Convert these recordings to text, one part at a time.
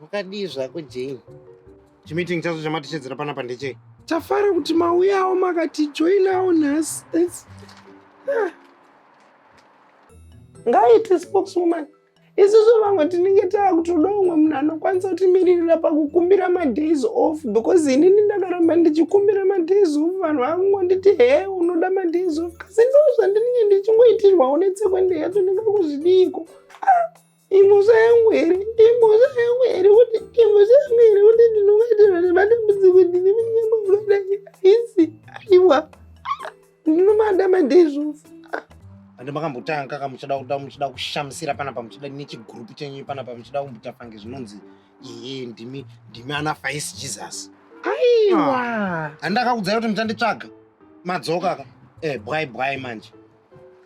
Wakadii zvako Jane? Chimeeting chacho chamatishedzera panapa ndechei? Tafara kuti mauyawo makati joinawo nhasi. That's ah. Ngaite spokeswoman. Isusu vamwe tinenge taakutoda umwe munhu anokwanisa kutimiririra pakukumbira madays off because inini ndakaramba ndichikumbira madays off vanhu vakungonditi he unoda madays off kasi ndo zvandinenge ndichingoitirwawo netsekwende yacho ndingakuzvidiiko ah. Imhosva yangu here? Imhosva yangu here kuti imhosva yangu here kuti ndinobatirwa nemadambudziko ndine munyama unodai? Haisi, aiwa. Ndinomada madei zvofa. Ande makambotanga ka muchida kuda muchida kushamisira panapa muchida nechigrupu chenyu panapa muchida kumbuta fange zvinonzi iye ndimi ndimi ana Faisi Jesus. Aiwa. Andakakudzai kuti muchanditsvaga. Madzoka ka. Eh, bwai bwai manje.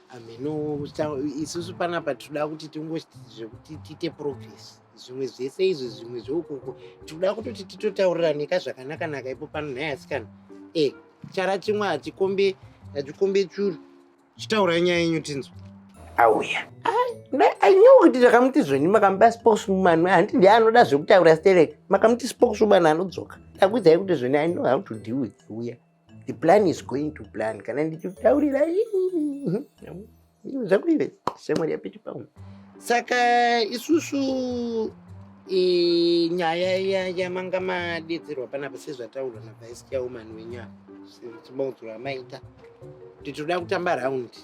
ameno isusu panapa tinoda kuti tingochiti zvekuti tiite progress zvimwe zvese izvi zvimwe zveukoko tikuda kutoti titotauriraneka zvakanakanaka ipo pano nhai asikana e eh, chara chimwe hachikombe hachikombe churu chitaurai nyaya yenyu tinzwa auya anyo kuti ndakamuti zvoni makamupa spokeswoman handi ndiye anoda zvekutaura sterek makamuti spokeswoman anodzoka takuidzai kuti zvoni i know how to deal with uya The plan is going to plan. Kana ndichitaurira zvakuive shamwari yapiti pamwe. Saka isusu nyaya yamanga madedzerwa panapa sezvataurwa navice chairman wenyaya chimaudzuro amaita kuti tinoda kutamba raundi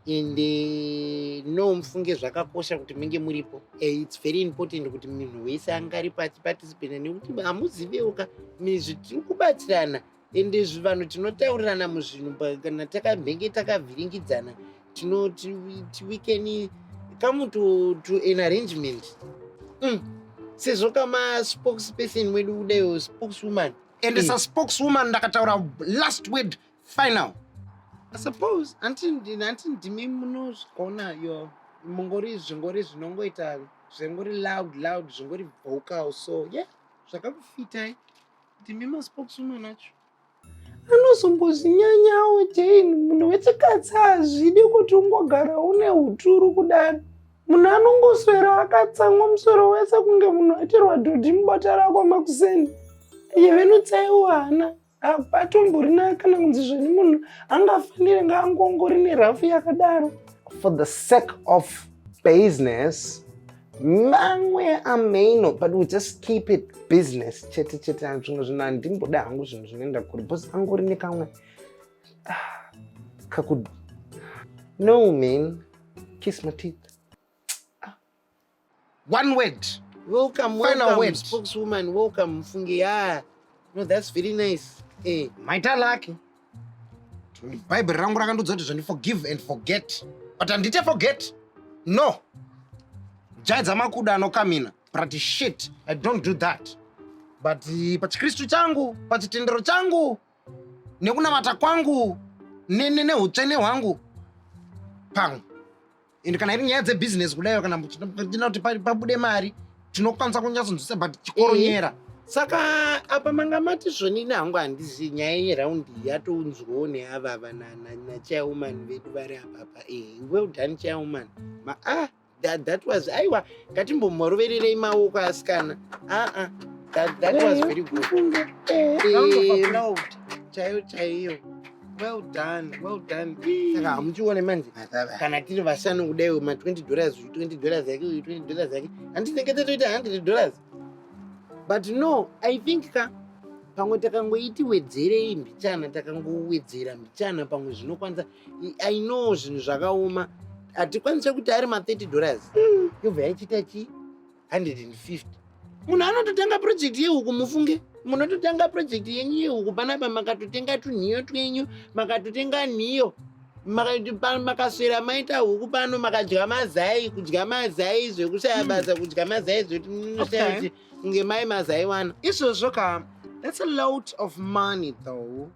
and eh, no mufunge zvakakosha kuti menge muripo eh, its very important kuti munhu wese anga ari pachipatisipena nekuti hamuzivewo ka mizvi tiri kubatsirana and vanhu tinotaurirana muzvinhu kana takamhenge takavhiringidzana tinoti we can come to, to an arrangement mm. sezvo kama spokesperson wedu kudaiwo spokeswoman and mm. saspokeswoman ndakataura last word final i suppose anti ndimi munozvigona yo mungori zvingori zvinongoita zvingori loud loud zvingori vocal so ye yeah, zvakakufitai ndimi maspokeswoman acho anozongozvinyanyawo jane munhu wechikadzi hazvidi kuti ungogara une uturu kudaro munhu anongoswera akatsamwa musoro wese kunge munhu atirwa dhodhi mubota rako makuseni iye venutsaiwo hana apatomborina kana kunzi zveni munhu angafanire ngaangongori nerafu yakadaro for the sake of business mamwe ameno but we just keep it business chete chete ani zvimwe zvinhu handimboda hangu zvinhu zvinoenda kuri bcause angori nekamwe ah, kaku no man kiss my teeth one word welcome final welcome, word spokeswoman welcome mfunge yeah no that's very nice eh hey. maita lake bhaibheri rangu rakandiudza kuti zvandi forgive and forget but handite forget no jaya dzamakuda anokamina but shit i don't do that but eh, pachikristu changu pachitendero changu nekunamata kwangu neutsvene hwangu pamwe and kana iri nyaya dzebhizinesi kudaio kana tinoda kuti pabude mari tinokwanisa kunyatsonzwisa but chikoronyera mm. saka apa manga mati zvonini hangu handizi nyaya yeraundi yatounzwawo neavava nachairwoman vedu vari apapa e eh, well done chairwoman maa ah. that, that was aiwa ngatimbomhorovererei maoko asikana aa that, that was very good chaiyo chaiyo well done well done saka hamuchione manje kana tiri vashanu kudaiwo ma 20 dollars 20 dollars yake uyu 20 dollars yake handitenge tatoita 100 dollars but no i think ka pamwe takangoiti wedzerei mbichana takangowedzera mbichana pamwe zvinokwanisa i know zvinhu zvakaoma hatikwanise kuti ari ma 30 dollars mm. yobva yaichiita chi 150 munhu anototanga project yehuku mufunge munototanga project yenyu yehuku panapa makatotenga tunhiyo twenyu makatotenga nhiyo makaswera maita huku pano makadya mazai kudya mazai zvekushaya basa kudya mazai zvekuti munoshaya kunge mai mazaiwana izvozvo ka that's a lot of money though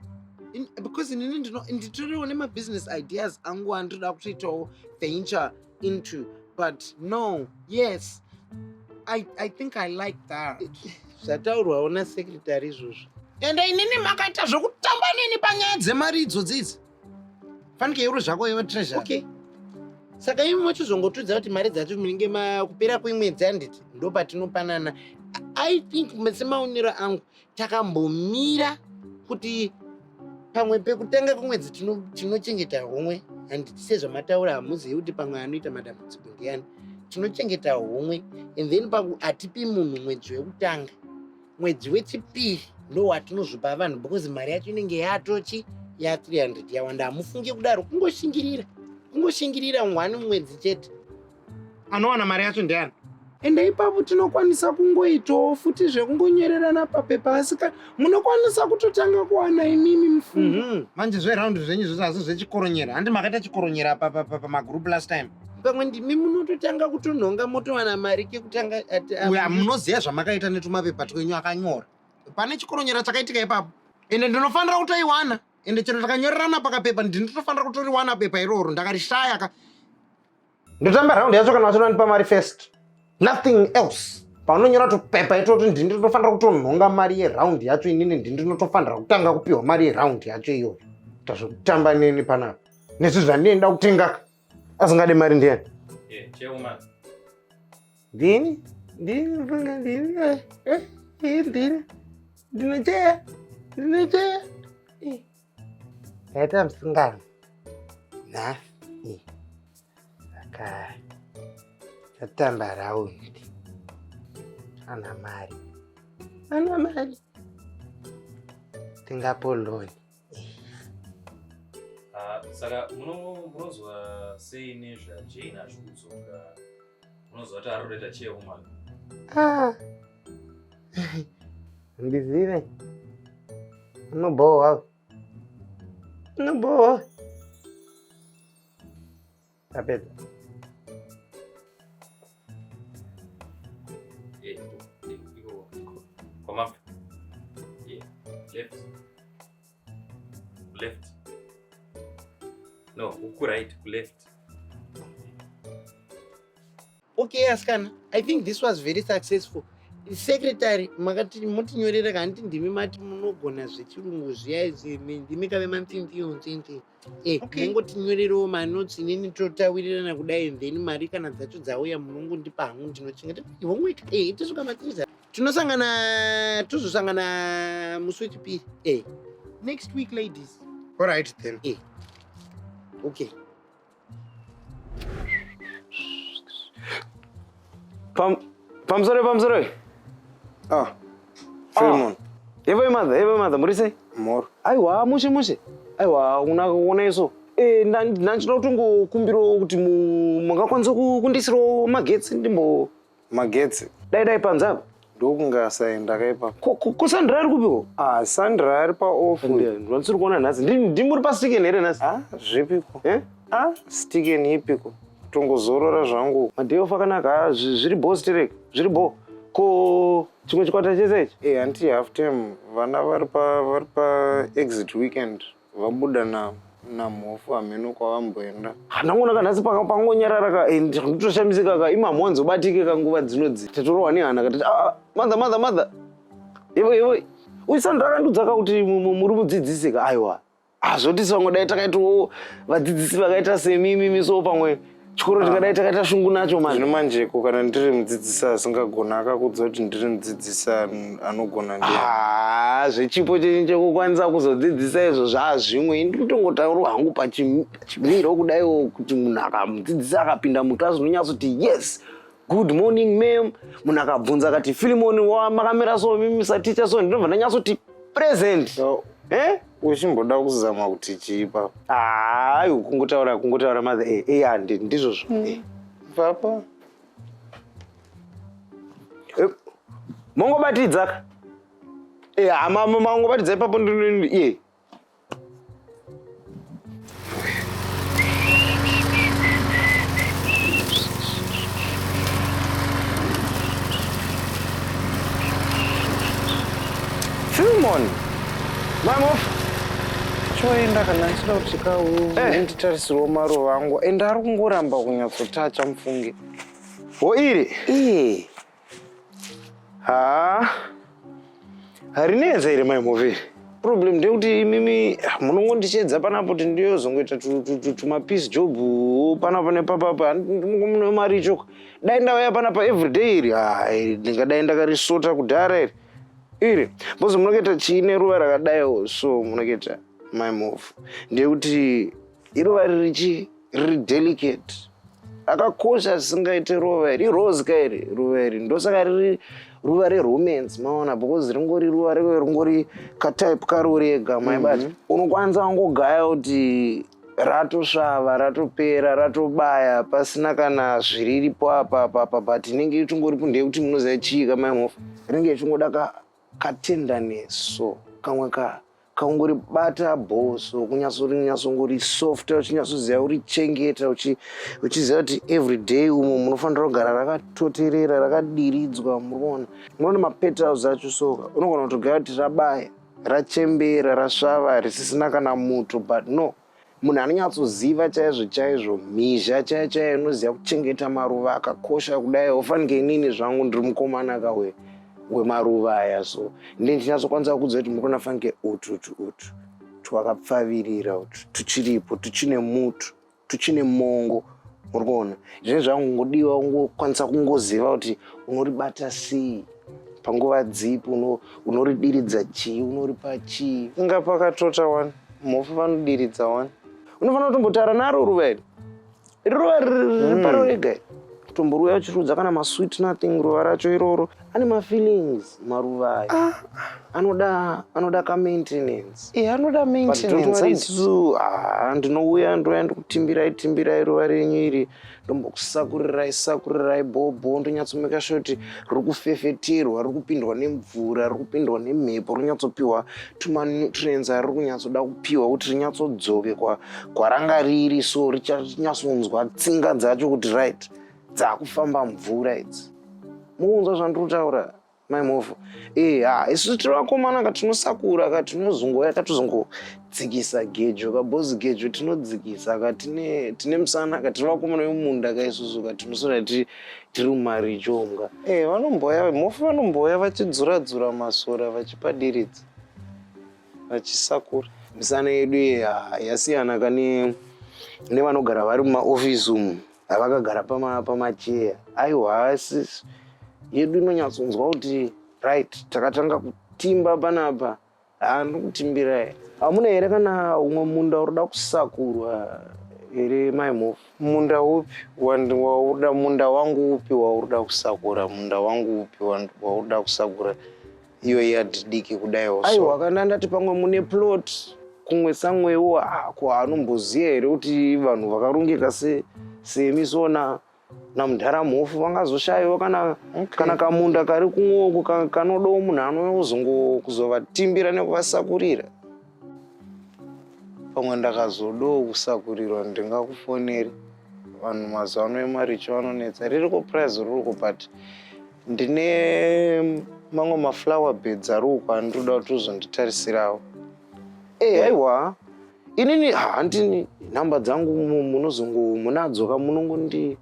In, because inini nditoriwo nemabusiness ideas angu andinoda kutoitawo venture into but no yes i, I think i like that zvataurwawo nasecretary izvozvo ende inini makaita zvokutamba neni panyaya dzemari idzo dzidzi fanike uri zvako iwe treasure okay saka imi mochizongotudza kuti mari dzacho munenge makupera kwemwedzi handiti ndopatinopanana i think semaonero angu takambomira kuti pamwe pekutanga kwemwedzi tinochengeta homwe handiti sezvamataura hamuzivi kuti pamwe anoita madambudziko ndiyani tinochengeta homwe and then paku hatipi munhu mwedzi wekutanga mwedzi wechipiri ndo watinozopa vanhu because mari yacho inenge yatochi ya 300 yawanda hamufunge kudaro kungoshingirira kungoshingirira one mwedzi chete anowana mari yacho ndiani ende ipapo tinokwanisa kungoitawo futi zvekungonyorerana papepa asika munokwanisa kutotanga kuwana imimi mufungo mm -hmm. manje zveround zvenyu zvozvo asi zvechikoronyera handi makaita chikoronyera pamagroup last time pamwe ndimi munototanga kutonhonga motowana mari kekutanga uya munoziva zvamakaita netumapepa twenyu akanyora pane chikoronyera chakaitika ipapo ende ndinofanira kutoiwana ende chero takanyorerana pakapepa ndinotofanira kutoriwana pepa iroro ndakarishaya ka ndotamba raundi yacho kana vachida ndipa mari first nothing else paunonyora tupepa itoti ndini ndinofanira kutonhonga mari yeraundi yacho inini ndini ndinotofanira kutanga kupiwa mari yeraundi yacho iyoyo tazvekutamba neni panapa nezvi zvandienda kutengaka asingade mari ndiyani ndini ndini mfunga ndini eh, eh, eh, ndini ndinocheya ndinocheya ndaita musingano nhasi saka tatamba raundi ana mari ana mari tingapo loni Ah, saka munozwa sei nezvajane achikudzoka munozwa kuti ari kutoita cheumana ah. ndizive unobhowa unobhowa Tapedza. Eh, eh, iko, iko. Kwa mama. Yeah. Left. Left. No, uku right, ku left. Okay, askana. I think this was very successful. Secretary, makati mutinyorera kanti ndimi mati munogona zvechirungu zviya izvi, ndimi kave mantintiyo ntinti. Eh, okay. mungotinyorerewo manotsi inini totawirirana kudai then mari kana dzacho dzauya munongondipa hangu ndinochengeta homework eh, itosvika matiriza tinosangana tozosangana musi wechipiri eh. next week ladies all right then eh. okay Pam, pamusoro pamusoro uyu. Ah. Filmon. Ah. Evo mother, evo mother, muri sei? Mor. Aiwa mushe mushe. Aiwa una kuona iso. Eh, ndanchida kutongo kumbiro kuti mungakwanisa kundisiro magetsi ndimbo magetsi. Dai dai panzapa. ndokunge asaenda akaipa ko sandra ari kupiwo ah sandra ari paoff ndisiri kuona nhasi ndimuri pastiken here nhasi ah zvipiko eh? ah stiken ipiko tongozorora zvangu maday off akanaka ah, zviri bo sterek zviri bo ko chimwe chikwata chese ichi e eh, hanti half time vana vari pa exit weekend Vabuda na namhofu hameno kwavamboenda. Handangonaka nhasi panga pangonyarara ka and ndinotoshamisika ka imamhonzi ubatike ka nguva dzino dzi. Tatorohwa nehana ka tati ah, ah mother mother mother. Yevo yevo. Uyu Sandra akandudza ka kuti mu- mu- muri mudzidzisi ka aiwa. Hazvotisi vamwe dai takaitawo vadzidzisi vakaita semimi miso pamwe chikoro tikadai takaita shungu nacho manje zvino manjeko kana ndiri mudzidzisi asingagona akakudza kuti ndiri mudzidzisi anogona ndi ah, zvechipo chenyu chekukwanisa kuzodzidzisa izvo zvaazvimwe inditotongotaurwa hangu pachimiro kudaiwo kuti munhu akamudzidzisi akapinda muklasi unonyatsoti yes good morning mam munhu akabvunza akati filimoni wa makamira so mimisa ticha so ndinobva ndanyatsoti present so, eh? uchimboda kuzama kuti chipa hayi kungotaura kungotaura mother e e handi ndizvozvo mm. eh, vapa eh, mongobatidzaka e eh, hama mangobatidza ipapo iye Filmon. Mamof. Choenda kana achida kusvika eh. nditarisirwa maruva angu and ari kungoramba kunyatsotacha mufunge. Ho iri? Iye. haa harinetsa iri mai move problem ndeyekuti imimi munongondichedza panapo kuti ndiyozongoita tumapiece job panapa nepapapa ndimune mari ichoka dai ndauya panapa everyday iri ha ndingadai ndakarisota kudhara iri iri bcause munokuita chiine ruva rakadaiwo so munokuita my move ndeyekuti iruva ririchi riri delicate akakosha zvisingaite ruva iri irose ka iri ruva iri ndosaka riri ruva reromance maona because ringori ruva reve ringori katype karori ega maibati mhm. unokwanisa wangogaya kuti ratosvava ratopera ratobaya pasina kana zviriripo apapapa but inenge ichingori pundei kuti munoziva chii kamaimofa rinenge ichingoda ka Katenda neso kamwe ka kaungori bata bhoso kunyasori nyasongori soft uchinyatsoziva uri chengeta uchiziva kuti every day umo munofanira kugara rakatoterera rakadiridzwa muruona munoona mapetals acho soka unogona kutogaya kuti rabaya rachembera rasvava risisina kana muto but no Munhu anonyatsoziva chaizvo chaizvo mhizha chaiyo chaiyo inoziva kuchengeta maruva akakosha kudai ofanike inini zvangu ndiri mukomana kawe wemaruva aya so ndindinyatsokwanisawo kuudza kuti muri kuona fanike ututu utu twakapfavirira utu tuchiripo tuchine mutu tuchine mongo muri kuona zvine zvangu ngodiwa ungokwanisa kungoziva kuti unoribata sei panguva dzipi unoridiridza chii unoripa chii inga pakatota wani mhofu vanodiridza wani unofanira kutombotaura naro ruva iri iri ruva riri paro rega iri tomboruya uchirudza kana masweet nothing ruva racho iroro ane mafeelings maruva ayo ah, ah. anoda anoda kamaintenance e eh, anoda maintenanceisu ah, ndinouya ndouya ndikutimbirai timbirai ruva renyu iri ndombokusakurirai sakurirai bhobho ndonyatsomeka sure kuti ruri kufefeterwa ruri kupindwa nemvura ruri kupindwa nemhepo rinyatsopiwa tumanutrients ari kunyatsoda kupiwa kuti rinyatsodzoke kwaranga riri so richanyatsonzwa tsinga dzacho kuti right dzakufamba mvura idzi mukunzwa zvandiri kutaura Mai Mhofu, eh, ha, ah, isu tiri vakomana ka tinosakura ka tinozongoya ka tozongodzikisa gejo ka bhozi gejo tinodzikisa ka tine tine musana ka tiri vakomana vemumunda ka isusu ka tinosona tiri tiri mumaricho omka. Eh, vanomboya Mhofu vanomboya vachidzura dzura masora vachipadiridza vachisakura. Misana yedu iyi ah, yasiyana ka ne nevanogara vari mumaofisi umu. Vakagara pama pamacheya. Aiwa haasi yedu inonyatsonzwa kuti right takatanga kutimba panapa. Ah ndokutimbira. Hamuna here kana umwe munda unoda kusakurwa here mai Mhofu? Munda upi wauda munda wangu upi wauda kusakura munda wangu upi wauda kusakura iyo yard diki kudaiwo so. aiwa kana ndati pamwe mune plot kumwe samwewo ako hanomboziva here kuti vanhu vakarongeka se semi sona namudhara mhofu vangazoshaiwa kana Okay. kana kamunda kari kumwoko ka- kanodawo munhu anouya kuzongozovatimbira nekuvasakurira pamwe ndakazodawo kusakurirwa ndingakufoneri vanhu mazuva ano emaricho vanonetsa ririko prize ririko but ndine mamwe maflower beds ariko andinoda kuti uzonditarisirawo e eh, aiwa inini handini nhamba dzangu munozongo munadzo ka munongondi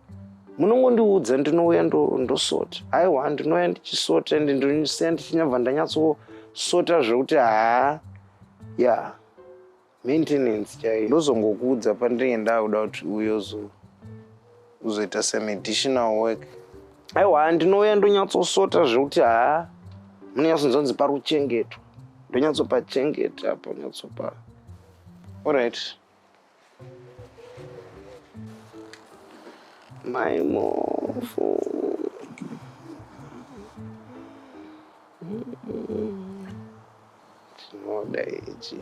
munongondiudza ndinouya ndosota aiwa ndinouya ndichisota ende ndinosiya ndichinyabva ndanyatsosota zvekuti haa ya maintenance chaiyo ndozongokuudza pandinenge ndakuda kuti uyo uzoita semeditional work aiwa ndinouya ndonyatsosota zvekuti haa munonyatsonzonzi pari kuchengetwa ndonyatsopachengeta apo nyatsopa orit Mai Mofu. Chinoda ichi.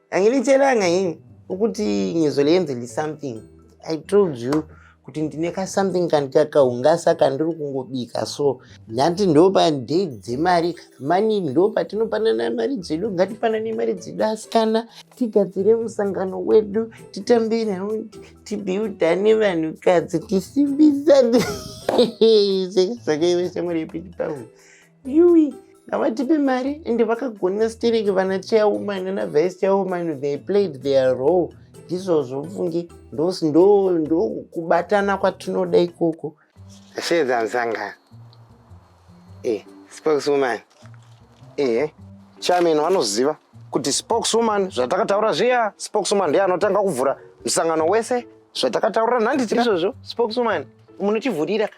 Angilitselanga yini ukuthi ngizolenzela something. I told you kuti ndine ka something kandikakaungasa kandiri kungobika so ndati ndopa day dzemari mani ndopa tinopanana mari dzedu ngatipanane mari dzedu asikana tigadzire musangano wedu titambe nhau tibiudhane vanhukadzi tisimbisane zvakaive shamwari yepiti pahu Yui, havatipe mari ende vakagona stereki vana chairwoman nana vice chairwoman they played their role ndizvozvo mfunge ndokubatana ndo, ndo kwatinoda ikoko shedza msangano eh, spokeswoman eh, chairman vanoziva kuti spokeswoman zvatakataura zviya spokeswoman ndiye anotanga kuvhura musangano wese zvatakataura nhanditi izvozvo spokeswoman munotivhurira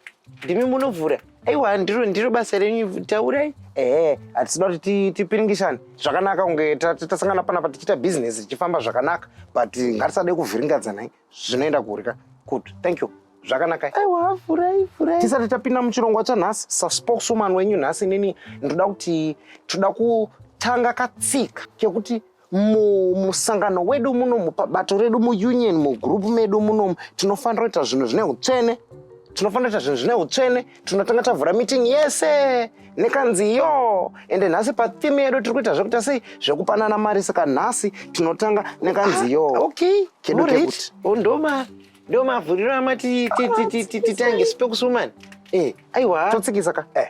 ndimi munovhura aiwa ndiro ndiro basa renyu taurai ehe hatisina kuti tipiringisane zvakanaka kunge tasangana panapa tichiita bhizinesi richifamba zvakanaka but ngatisadei kuvhiringadzanai zvinoenda kuri ka good thank you zvakanaka aiwa vhurai vhurai tisati tapinda muchirongwa chanhasi saspokeswoman wenyu nhasi nini ndoda kuti toda kutanga katsika kekuti mumusangano wedu munomu pabato redu muunion mugroup medu munomu tinofanira kuita zvinhu zvine utsvene tinofanira kuita zvinhu zvine utsvene tinotanga tavhura meeting yese nekanzi yo ende nhasi patheme yedu tiri kuita zvekuita sei zvekupanana mari saka nhasi tinotanga nekanzi yo ah, okay kedu kekuti oh, ndoma ndomavhuriro amati titange spekusumani eh, aiwa totsikisa ka eh.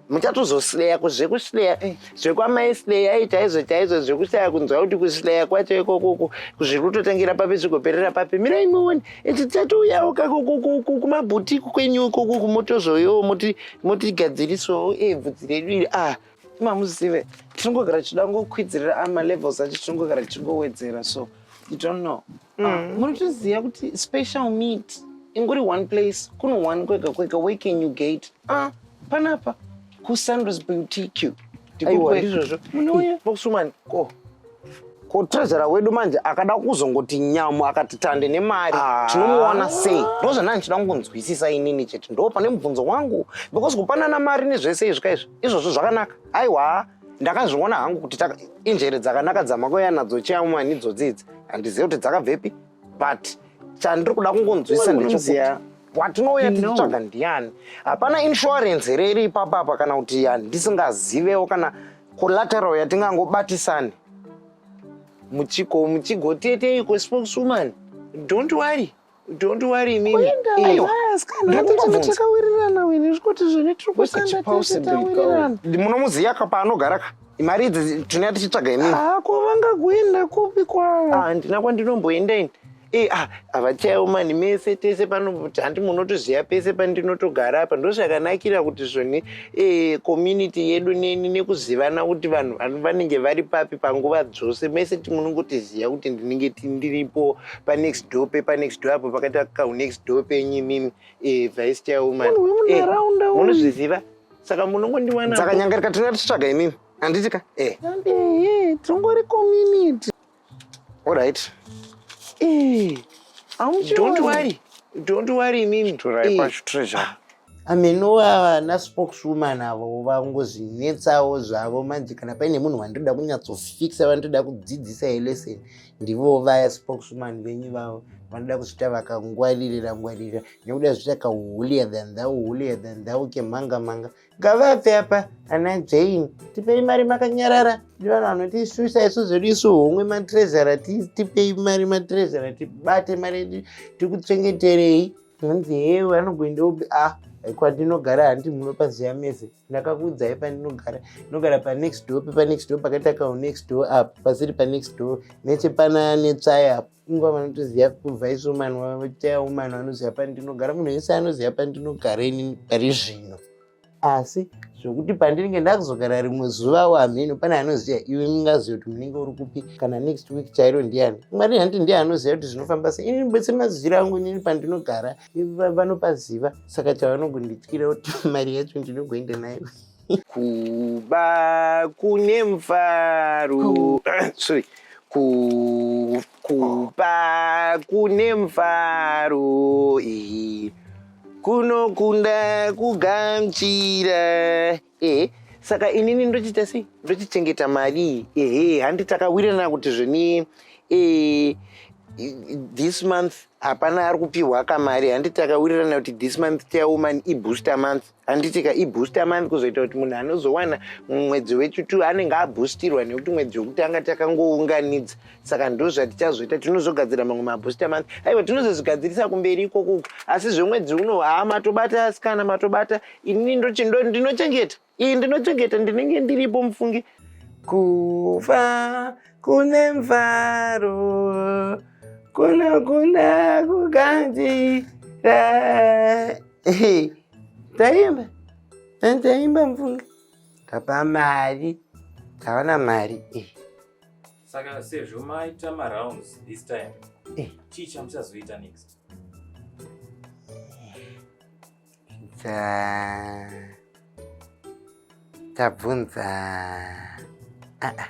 muchatozosleya kuzvekusleya eh. zvekwamai sleya i chaizvo chaizvo zvekushaya kunzwa kuti kusleya kwacho ikokoko zviri kutotangira papi zvikoperera papi mirai muone iti tatouyawo kakumabhutiku kwenyu ikokoko motozoyowo motigadzirisawo e bvudzi redu iri ah mamuzive tinongogara tichida ngokwidzirira amalevels ah, acho tinongogara tichingowedzera so you don't know Mm. Muri kuziva kuti special meat inguri one place kuno one kwega kwega where can you get ah panapa kusandros boutique ndikoizvozvo munouya boxwoman ko ko trezvera wedu manje akada kuzongoti nyamu akati tande nemari ah. tinomuwana sei ndo zvandanga ndichida kungonzwisisa inini chete ndo pane mubvunzo wangu because kupanana mari nezvese izvi ka izvi izvozvo zvakanaka aiwa ndakazviona hangu kuti injere dzakanaka dzamakoya nadzo chiamwani dzodzidzi handizive kuti dzakabvepi but chandiri kuda kungonzwisisa ndechokuti watinouya tichitsvaga ndiani hapana insurance here iri ipapa apa kana kuti yandisingazivewo kana collateral yatingangobatisani muchigo muchigo teteiko spokeswoman don't worry Don't worry inini. Kuenda Aiwa. yes kana Ndiri atete kungobvunza. takawirirana wini zvikuti zvine tiri What's kushanda it tese possible? tawirirana. Munomuziva ka paanogara ka? Mari idzi tinenge tichitsvaga inini. Ah ko vangakuenda kupi kwavo? Ah, handina kwandinomboenda ini. Eh, ah, havachayewo mani mese tese pano handi munotoziva pese pandinotogara apa ndozvakanakira kuti zvoni eh, community yedu neni nekuzivana kuti vanhu vano- vanenge vari papi panguva dzose mese ti- munongotiziva kuti ndinenge ti- ndiripo panext door pepa next door apo pakaita kahu next door penyu imimi eh, vice chairwoman eh, munozviziva saka munongondiwana dzakanyangarika tinonga tichitsvaga imimi handiti ka eh. eh, tingori community allright don't worry don't worry imimi amenowa ana spokeswoman avo vangozvinetsawo zvavo manje kana paine munhu wandoda kunyatsofixa vandoda kudzidzisa yelesson ndivo vaya spokeswoman venyu vavo vanoda kuzvita vakangwaririra ngwaririra nekuda zvita kahulia than thou hulia than thou kemhanga mhanga ngavabve apa ana jane tipei mari makanyarara ndi vanhu vanotisuisa isu zvedu isu homwe matrezara tipei mari matrezara tibate mari yedu tikuchengeterei hanzi hee vanogoenda upi a ah, kwandinogara handi munopaziva mese ndakakuudzai pandinogara ndinogara panext door pepanext door pakaita kao next door apo pasiri panext door nechepana netsvai apo ingwa vanotoziva kuvice woman vachitaya woman vanoziva pandinogara munhu wese anoziva pandinogara inini pari zvino asi zvokuti pandinenge ndakuzogara rimwe zuva wo hameno pane anoziva iwe mungaziva kuti munenge uri kupi kana next week chairo ndiani mwari hanti ndiye anoziva kuti zvinofamba sei ini bese maziviro angu inini pandinogara vanopaziva saka chavanongondityira kuti mari yacho ndinogoenda nayo kuba kune mufaro sorry kuba Kupa kune mfaro eh. kunokunda kugamchira eh. saka inini ndochiita sei ndochichengeta mari ehe handi takawirirana kuti zveni eh, this month hapana ari kupiwa kamari handi takawirirana kuti this month chairwoman ibooster month handitika ibooster month kuzoita kuti munhu anozowana mwedzi wechitu anenge aboostirwa nekuti mwedzi wekutanga takangounganidza saka ndo zvatichazoita tinozogadzira mamwe mabooster month aiwa tinozozvigadzirisa kumberi ikoko asi zvemwedzi uno haa matobata asikana matobata ini ndinochengeta iyi ndinochengeta ndinenge ndiripo mufungi kuva kune mvaro kunokunda kukanjira taimba taimba mfunga tapa mari taona mari eh. saka sezvo maita marounds this time eh. chii chamuchazoita next tabvunza ah, ah.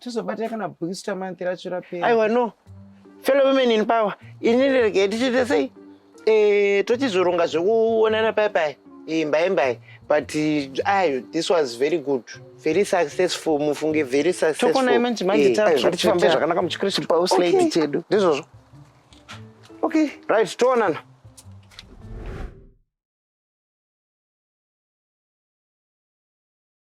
tozobatira kana booster month racho rapera aiwa no fellow women in power ini ndiregei tichiita sei eh, tochizoronga zvekuonana paya paya eh, mbai mbai but eh, ayo this was very good very successful mufunge very successfultokonai manje manje tatifambe zvakanaka muchikristu pauslady chedu ndizvozvo okay right toonana